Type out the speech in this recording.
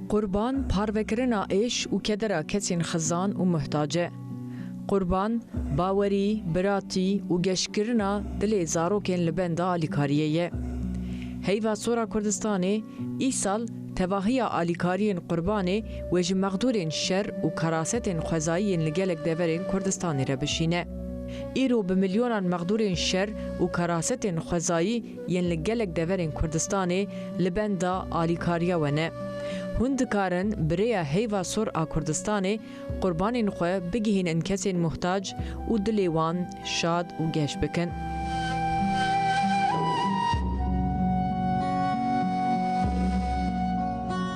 Qurban parvekirina êş û kedera kesên xizan û muhtac e. Qurban, bawerî, biratî û geşkirina dilê zarokên li benda alîkariyê ye. Heyva Sora Kurdistanê îsal tevahiya alîkariyên Qurbanê wê ji mexdûrên şer û karasetên xwezayî yên li gelek deverên Kurdistanê re bişîne. îro bi milyonan mexdûrên şer û kerasetên xwezayî yên li gelek deverên Kurdistanê li benda alîkariya we ne. Hûn dikarin bi rêya heyva sor a Kurdistanê qurbanên xwe bigihînin kesên muhtac û dilê wan şad û geş bikin.